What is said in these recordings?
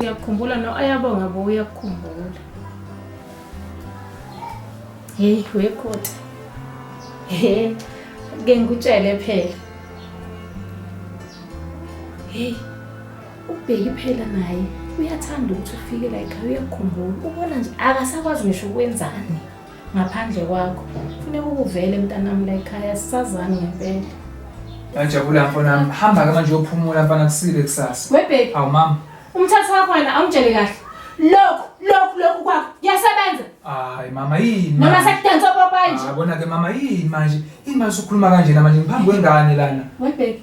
uyakukhumbula no ayabonga bo uyakukhumbula heyi wekhoti he ke ngikutshele phela heyi ubheki phela naye uyathanda ukuthi ufike la ekhaya uyakukhumbula ubona nje akasakwazi ngisho ukwenzani Ngaphandle kwakho. Kufuneka ukuvele mntanami la ekhaya sisazani ngempela. Ngajabula mfana wami. Hamba ke manje uyophumula mfana kusile kusasa. We baby. Awu mama. Umthatha wakho wena awumtshele kahle. Lokhu lokhu lokhu kwakho kuyasebenza. Hayi mama yini? Noma sekudansa popayi nje. Yabona ke mama yini manje? Yini manje ukhuluma kanjena manje ngiphambi kwengane lana? We baby.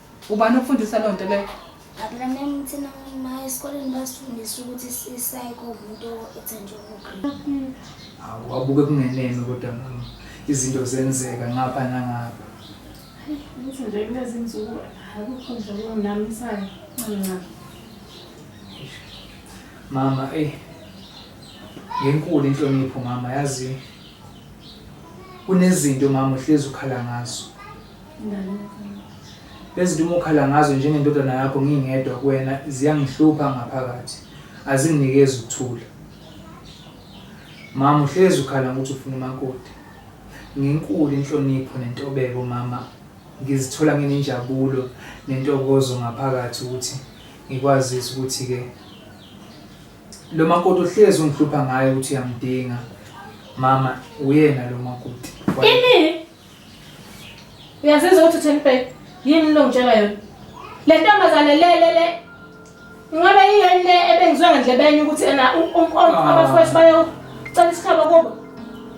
Ubani okufundisa loo nto leyo? Ablameni thina ma esikoleni basifundisa ukuthi isayiko umuntu ethenjwe ngogrini. Hawu wabuke kungeneme kodwa mama. Izinto zenzeka ngapha nangapha. Ngithi nje kulezi nsuku akukho nje okunginamisayo ncancane. Mama, eyi ngenkulu inhlonipho mama yazi kunezinto mama uhlezi ukhala ngazo. Lezi zinto uma ukhala ngazo njengendodana yakho ngingedwa kuwena ziyangihlupha ngaphakathi. Azinginikezi ukuthula. Mama uhlezi ukhala ngokuthi ufuna umakoti. Ngenkulu inhlonipho nentobeko mama ngizithola nginenjabulo nentokozo ngaphakathi ukuthi ngikwazise ukuthi-ke lo makoti ohlezi ungihlupha ngayo ukuthi uyamdinga mama uyena lo makoti. Ini? Uyazizwa ukuthi uthini bheki? Yini lo ngitshela yona? Le ntombazane le le le Ingabe yini le ebengizwe ngendlebenye ukuthi ena ah. abafowethu bayocela isikhabo kubo?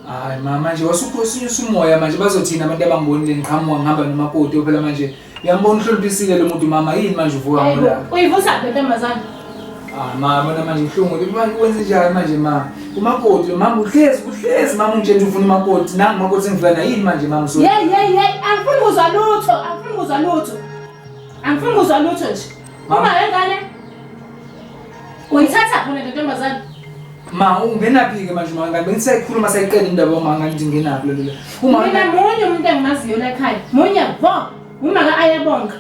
Hayi mama manje wasukhosi usumoya manje bazothina abantu abangibonile ngiqhamuka ngihamba nomakoti phela manje Uyambona uhloniphisile lo muntu mama yini manje uvuka ngola. Uyivusa ke ntombazana. Ah mama bona manje ihlungu manje kwenze njani manje mama. Umakoti mama uhlezi uhlezi mama ungitshela ufuna umakoti nangu umakoti engivula na yini manje mama so. Yey yey yey angifuni kuzwa lutho angifuni kuzwa lutho. Angifuni kuzwa lutho nje. Mama engane Uyithatha khona le ntombazane. Ma ungenaphi-ke manje uma ngabe ngisayikhuluma sayiqeda indaba yomanga ngithi ngenaphi lelo. Uma Mina munye umuntu engimaziyo la ekhaya. Munye vo. Umaka ayabonga.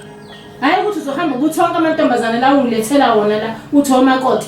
Hayi ukuthi uzohamba ukuthi wonke amantombazane la ungilethela wona la uthi omakoti.